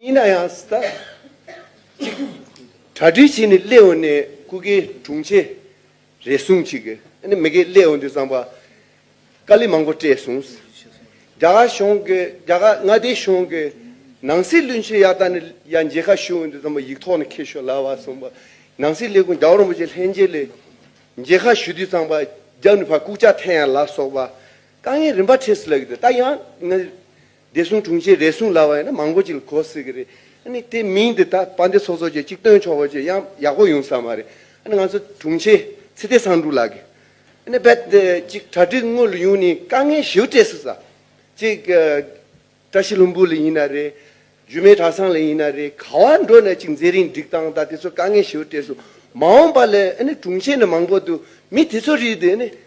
ཡིན་ན་ཡང་ཟླ་གཅིག་གྲ་སྒྲིག་བྱས་ནས་སླེ་འོང་ནས་སྐུ་གེ་དྲུང་ཆེ་རེ་ཟུང་ཅིག་གི་ཨ་མི་གེ་སླེ་འོང་དུས་ཙང་པ་དཀའ་ལས་མང་པོ་སྤྲད་གསུང། རྒྱ་གར་གཞུང་གི་རྒྱ་གར་མངའ་སྡེའི་གཞུང་གི་ནང་སྲིད་བློན་ཆེན་ཡག་ད་ནི་ཡ་མཇལ་ཁ་ཞུ་འོང་དུས་ཙང་པ་ཡིག་ཐོག་ནས་ཁེལ་ཤོག་ལབ་བ་གསུང་པ་ནང་སྲིད་ལས་ཁུངས་རྒྱ་གར་རིན་པོ་ཆེ་ལྷན་རྒྱས་ལས་མཇལ་ཁ་ཞུ་དུས་ཙང་པ་རྒྱབ་ནས་ཕར་ལྐུག་ཅག་འཐེན་ཡ་ལབ་སོགས་པ་དཀའ་ངལ་རིམ་པ་འཕྲད་སྲིད་ལགས་ཀི་འདུག་ད་ཡང་ངའི་བདེ་སྲུང་དྲུང་ཆེ་རེ་ཟུང་ལ་བ་ཡིན་ན་མང་པོ་ཅིག་ལ་གོ་སྲིད་ཀྱི་རེད། ཨ་ནི་དེ་མིང་འདི་དག་དཔའ་འདེ་ཚོགས་ཚོགས་བཅས་ཅིག་བཏོན་ཆོག་པ་བཅས་ཡང་ཡག་པོ་ཡོང་ས་མ་རེད། ཨ་ནི་ང་ཚོ་དྲུང་ཆེ་ཚེ་བརྟན་བསང་འབྲུག་ལགས་ཀྱིས་ཨ་ནི་རྦད་དེ་ཅིག་གྲ་སྒྲིག་དངོས་ལ་ཡོང་ནས་དཀའ་ངལ་ཞིབ་སྤྲད་སྲིད་ས། ཅིག་བཀྲ་ཤིས་ལྷུན་པོ་ལ་ཡིན་ན་རེད། རྒྱུ་མའི་གྲྭ་ཚང་ལ་ཡིན་ན་རེད་ག་བ་འགྲོ་ན་ཅིག་མཛད་རིང་སྒྲིག་སྟངས་དང་དེ་ཚོ་དཀའ་ངལ་ཞིབ་སྤྲད་སྲིད། མ་འོངས་པ་ལ་ཨ་ནི་དྲུང་ཆེ་ནས་མང་པོ་འདུག་མི་དེ་ཚོ་རིགས་དེ་ཨ་ནི།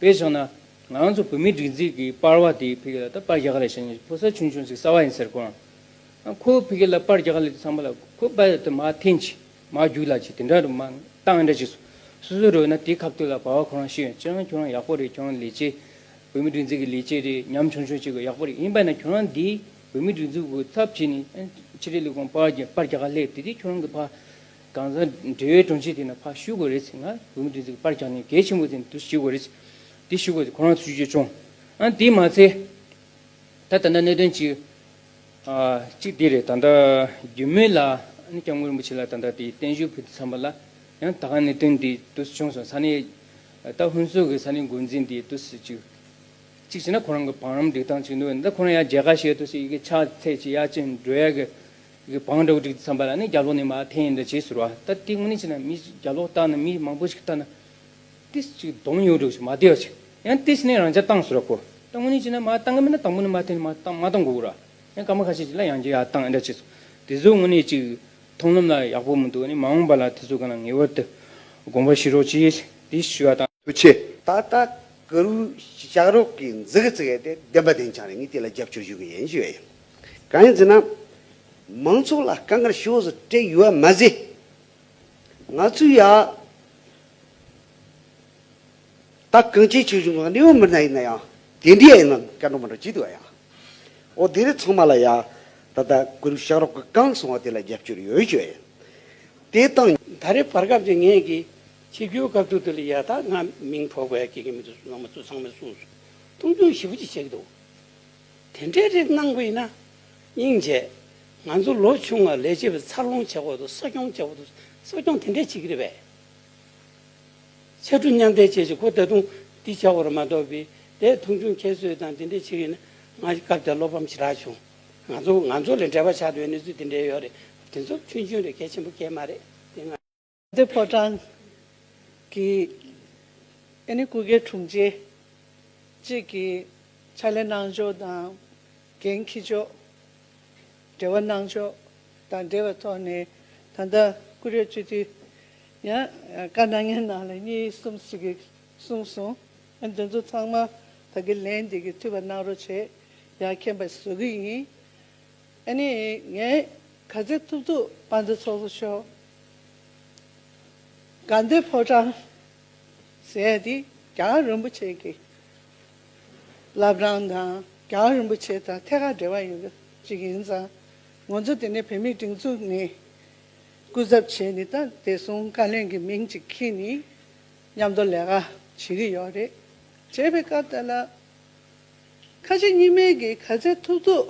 བས་སོང་ན། ང་ཚོ་བོད་མིའི་སྒྲིག་འཛིག་གིས་པར་བ་དེའི་ཕི་ཀི་ལ་ད་པར་རྒྱག་ལེ་ཞེས་ནས་ཕོ་གསར་ཆུང་ཆུང་ཟིག་གསར་བ་ཡིན་ཟེར་གོང། ཁོ་བོས་ཕི་ཀི་ལ་པར་རྒྱག་ལེ་དེ་ཚང་མ་ལ་ཁོ་པར་དེ་མ་འཐེན་ཅིག་མ་རྒྱུག་ལ་ཅིག་དེ་འདྲ་རུ་མ་གཏང་འདྲ་ཅིག་སོ་སོའི་རོལ་ན་དེ་ཁ་བཏོད་ལ་བར་བ་ཁོ་རང་ཤེས་ཡོང་ཁྱེད་རང་ཁྱོད་རང་ཡག་པོ་རེད་ཁྱོད་རང་ལས་བྱེད། བོད་མིའི་སྒྲིག་འཛིག་གི་ལས་བྱེད་རེད་ཉམ་ཆུང་ཆུང་ཅིག་གོ་ཡག་པོ་རེད་ཡིན་པ་ན་ཁྱོད་རང་འདིས་བོད་མིའི་སྒྲིག་འཛུག་གི་ཚབ་བྱེད་ནས་ཕྱི་དྲིལ་ལས་ཁུངས་པར་རྒྱག་ལེ་དེ་དེ་ཁྱོད་རང་གི་ཕ། དྭངས་གཙང་འབྲེལ་བའི་དྲུང་ཆེ་དེ་ནི་ཕར་བཞུགས་དགོས་རེད་ཟེར་ན་བོད་མི་སྤྲིན་ཚོགས་ཀྱི་པར་བརྒྱག་ནས་གལ་ཆེན་པོ་དེ་ནི་དུ་བཞུགས་དགོས་རེད། དེ་བཞུགས་དགོས་ཏེ་ཁོ་རང་ཚོས་བརྗོད་བྱུང། ཨང་དེས་མ་ཚད། ད་ལྟ་ན་གནད་དོན་གཅིག། གཅིག་དེ་རེད་ད་ལྟ་རྒྱུས་མེད་ལ་ཨ་ནི་སྐྱབས་མགོན་རིན་པོ་ཆེ་ལ་ད་ལྟ་དེ་བརྟན་བཞུགས་ཕུལ་དུ་འཚམས་པ་ལ་ཡང་ད་ག་གནད་དོན་དེ་དུ་བྱུང་སོང་ས་ནི། ད་ལྟ་ཧུན་སོག་གི་ས་ནི་འགོ་འཛིན་དེ་དུ་སུ་གཅིག། གཅིག་བྱས་ན་ཁོ་རང་གི་བང་རམ་སྒྲིག་སྟངས་གཅིག་འདུག་ད་ཁོ་རང་ཡང་མཇལ་ཁ་བྱས་དུ་སུ་ཡི་གེ་ཕྱག་ཚད་ཅིག་ཡ་ཅིག་འགྲོལ་ཡ་གི་གི་བང་འགྲོ་གྲིག་ཙམ་པ་ལ་ནི་རྒྱ་ལོག་ནི་མ་འཐེན་ཡིན་འདི་བྱེད་ཟེར་བ་ལྟར་གྲིག་ངོ་ནི་བྱས་ན་མི་རྒྱ་ལོག་བཏགས་ན་མི་མང་པོ་ཞིག་བཏགས་ན། དེ་ཅིག་གདོང་ཡོད་འགྲོ་ཞིག་མ་བདེ་བ་ཞིག་ཡང་དེ་བྱས་ནས་རང་ཅག་བཏང་ཟེར་བ་གོ་བཏང་ངོ་ནི་བྱས་ན་མ་བཏང་གི་མིན་ན་དང་པོ་ནི་མ་འཐེན་མ་བཏང་མ་བཏང་གོ་ར་ཡང་སྐར་མ་ཁ་ཤས་ཅིག་ལ་ཡང་རྒྱ་ཡ་བཏང་འདྲ་བྱེད་ཚོ་དེ་ཚོ་ངོ་ནི་ཅིག་མཐོང་ལམ་ལ་ཡག་པོ་མི་འདུག་ནི་མ་འོངས་པ་ལ་དེ་ཚོ་ག་ན་ངེས་བར་དུ་དགོངས་པ་བཞེས་རོགས་ཅེས་དེ་ཞུས་བ་དང། དུ་ཆེ། ད་ལྟ་སྐུ་རུ་ཞག་རོགས་ཀྱིས་འཛུགས་ཀྱི་བརྩི་གི་ཡོད་དེ་བདེན་པ་བདེན་ཆ་ནི་ངས་དེ་ལ་རྒྱབ་སྐྱོར་ཞུ་གི་ཡིན་ཞུས་བ་ཡིན། གང་ཡིན་ཟེར་ན། མང་ཚོགས་ལ་དཀའ་ངལ་ཤོས་སུ་སྤྲད་ཡོད་པ་མ་ཟད། ང་ཚོས་ཡང་དག་གང་བྱེད་བྱེད་བཞིན་པའི་གནས་བབ་མི་སྣ་ཡིན་ན་ཡང་དེ་འདྲའི་ཡང་སྐྱར་འགྲོ་མ་འགྲོ་བྱེད་དགོས་ཡ། འོ་དེ་རིང་ཚང་མ་ལ་ཡང་ད་ལྟ་དགུན་དུས་ཤག་རོགས་ཀྱི་རྐང་སོང་བ་དེ་ལ་རྒྱབ་སྐྱོར་ཡོད་བྱོས་ཡིན། དེ་དང། ད་རེས་བར་སྐབས་ཀྱི་ངས་ཀྱི་ཆེ་བརྒྱུད་སྐབས་བསྡུར་དེ་ལ་ཡང་དག་ང་མིང་ཐོགས་པའི་དགེ་རྒན་མི་འདུག་ནང་མི་ཚོ་ཚང་མས་སུ་སུ་མཐོང་ཆུང་ཞིབ་ཕྲ་ཅིག་བྱེད་ཀྱི་འདུག། དེ་འདྲའི་རིགས་གནང་དགོས་ན། སྙིང་རྗེ། ང་ཚོ་ལོ་ཆུང་བ་ལས་བྱེད་པའི་འཚར་ལོངས་བྱེད་དགོས་འདུག་གསོ་སྐྱོང་བྱེད་དགོས་འདུག་གསོ་སྐྱོང་དེ་འདྲའི་བྱེད་ཀྱི་རེད་པས། ཕྱར་གྲུ་མཉམ་འདེགས་བྱེད་བྱེད་དགོས་ད་དུང་འདི་བྱ་དགོས་ར་མ་གཏོགས་པའི་དེ་མཐོང་ཆུང་ཁྱད་གསོད་དང་དེ་འདྲའི་བྱེད་ཀྱི་ན་ང་སྐབས་དེར་བློ་ཕམ་ཆེ་དྲགས་བྱུང། ང་ཚོ་ང་ཚོ་ལས་འབྲེལ་བ་ཆགས་འདོད་གནས་ཚུལ་དེ་འདྲའི་ཡོད་རེད། དེ་ཚོར་ཆུན་ཆུན་རེད་གལ་ཆེན་པོ་གལ་དམའ་རེད་དེ་སྔ། འདིར་ཕོ་བྲང་གི་ཨེ་ནི་ཀུ་གེ་དྲུང་ཆེ་བཅས་ཀྱི་ཕྱག་ལས་གནང་ཕྱོགས་དང་འགན་འཁྱེར་ཕྱོགས། འབྲེལ་བ་གནང་ཕྱོགས་དང་འབྲེལ་བའི་ཐོག་ནས་ད་ལྟ་ཀུ་རེ་སྤྱི་འཐུས་ཡང་བཀའ་གནང་མཁན་རྣམས་ལ་གཉིས་གསུམ་ཞིག་གསུངས་སོང། འདི་ཚོ་ཚང་མ་ད་གི་ལན་འདེད་ཀྱི་འཐུས་པ་གནང་རོགས་བྱས་ཡ་མཁྱེན་པ་བཟོ་གི་ཡིན། ཨ་ནི། ངས་ག་ཚད་ཐུབ་ཐུབ་པ་འདི་ཚོགས་སུ་ཤོར། དགའ་འདོད་ཕོ་བྲང་ཟེར་ཡ་འདི་རྒྱང་རིན་པོ་ཆེ་གི་བླ་བྲང་དང་རྒྱང་རིན་པོ་ཆེ་དང་ཐད་ཀར་འབྲེལ་བ་ཡོད་ཅིག་ཡིན་ཙང་ངོ་ཚོ་དེ་ནས་བོད་མིའི་སྒྲིག་འཛུགས་ནས་སྐུ་ཚབ་བྱས་ནས་ད་དེ་སོང་བཀའ་བློན་གྱི་མིང་ཅིག་ཁྱེར་ནས་མཉམ་དུ་ལས་ཀ་བྱེད་གི་ཡོད་རེད་བྱས་པའི་སྐབས་དེ་ལ། ཁ་ཆེ་གཉིས་མེད་ཀྱི་གར་ཆ་ཐུབ་ཐུབ།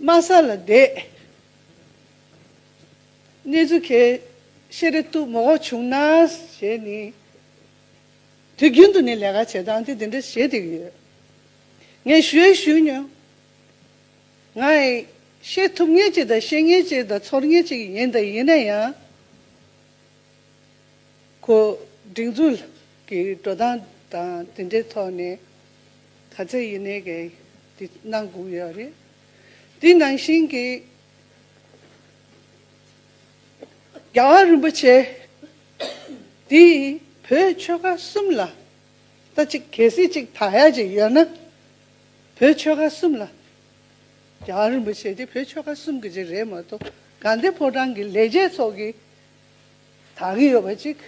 དམའ་ས་ལ་བསྡད། གནས་ཚུལ་ཁས་ཤེས་རེ་ལྟུ་མོ་གོ་བྱུང་ན་ཞེས་ནི། དུས་རྒྱུན་དུ་ནི་ལས་ཀ་བྱེད་སྟངས་དེ་འདི་འདྲ་བྱེད་དེ་ཡོད། ངས་ཞུས་ཨེ་ཞུས་ཉོན། ང་ཨེ་ཤེས་ཐུབ་ངེས་ཅིག་དང་ཤེས་ངེས་ཅིག་དང་ཚོར་ངེས་ཅིག་ཡིན་དང་ཡིན་ན་ཡང། ཁོ། སྒྲིག་འཛུགས་ཀྱི་འགྲོ་སྟངས་དང་དེ་འདྲའི་ཐོག་ནས་ག་ཚད་ཡིན་ནའི་གལ་དེ་གནང་དགོས་ཡོད་རེད། དེ་ནང་བཞིན་གྱི། རྒྱ་གར་རིན་པོ་ཆེ་འདིས་བོད་ཆོལ་ཁ་གསུམ་ལ་ལྟ་ཅིག་གལ་སྲིད་ཅིག་དག་ཡ་ཅིག་ཡོད་ན། བོད་ཆོལ་ཁ་གསུམ་ལ། རྒྱ་གར་རིན་པོ་ཆེ་འདི་བོད་ཆོལ་ཁ་གསུམ་གྱི་ཅིག་རེད་མ་གཏོགས་གངས་ཏེ་ཕོ་བྲང་གི་ལས་བྱེད་ཚོགས་ཀྱི་དག་གི་ཡོད་པ་ཅིག་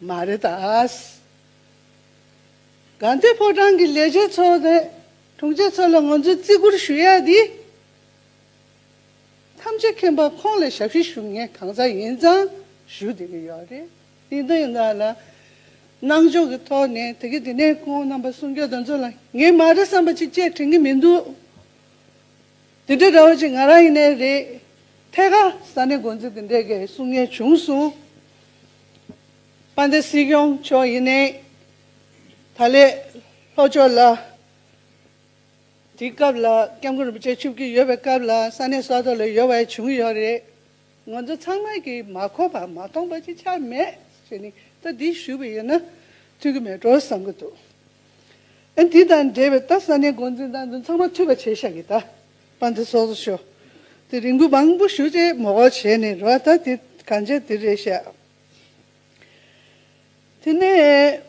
མ་རེད་ད། དགའ་ལྡན་ཕོ་བྲང་གི་ལས་བྱེད་ཚོ་དང་དྲུང་ཆེ་ཚོ་ལ་ང་ཚོས་བརྩི་བཀུར་ཞུ་ཡག་འདི། ཐམས་ཅད་མཁྱེན་པ་ཁོང་ལ་ཞབས་ཕྱི་ཞུ་ངེས་གང་ཟག་ཡིན་ཙང་ཞུ་བསྡད་ཀྱི་ཡོད་རེད། དེ་འདི་འདྲ་ལ་སྣང་འཇོག་གི་ཐོག་ནས་དེ་གས་དེ་ནས་ཁོང་རྣམ་པ་སྲུང་སྐྱོབ་དང་ཚོ་ལ་ངེས་མ་རེད་བསམ་པ་ཅིག་བཅས་དྲན་གྱི་མི་འདུག། དེ་འདྲའི་དྲ་བ་གཅིག་ང་རང་ཡིན་ནའི་རེད། ཐད་ཀར་ས་གནས་འགོ་འཛིན་དེ་འདྲས་ཀྱི་གསུང་ངན་བྱུང་སོང། པ་འདི་སྲིད་སྐྱོང་མཆོག་ཡིན་ནའི། ད་ལས་ལྷོ་ཕྱོགས་ལ། དེའི་སྐབས་ལ་སྐྱབས་མགོན་རིན་པོ་ཆེ་ཆུབ་ཀྱི་ཡོད་པའི་སྐབས་ལ་ས་གནས་སོག་ཐོག་ལ་ཡོད་བའི་བྱུང་ཡོད་རེད། ང་ཚོ་ཚང་མ་གྱིས་མ་གོ་བ་མ་མཐོང་བ་ཅིག་ཆགས་མེད་ཟེར་ནས་ད་འདི་ཞུས་པ་ཡིན་ན། ཐུགས་ཀྱི་མེད་འགྲོ་བསམ་གྱི་འདུག། ཨེ། འདི་དང་འབྲེལ་བའི་རྟ་ས་ནས་འགོ་འཛིན་དང་འདུན་ཚང་མ་འཐུས་པ་བྱས་ཤག་གི་རྟ་པ་འདི་སོགས་སུ་ཤོག་དེ་རིང་འགུལ་མང་པོ་ཞུ་ཅེས་མོ་ཁོག་བྱས་ནས་རོ་ཨ་ད་དེ་གང་བྱས་དེ་རེད་བཤད། དེ་ནས།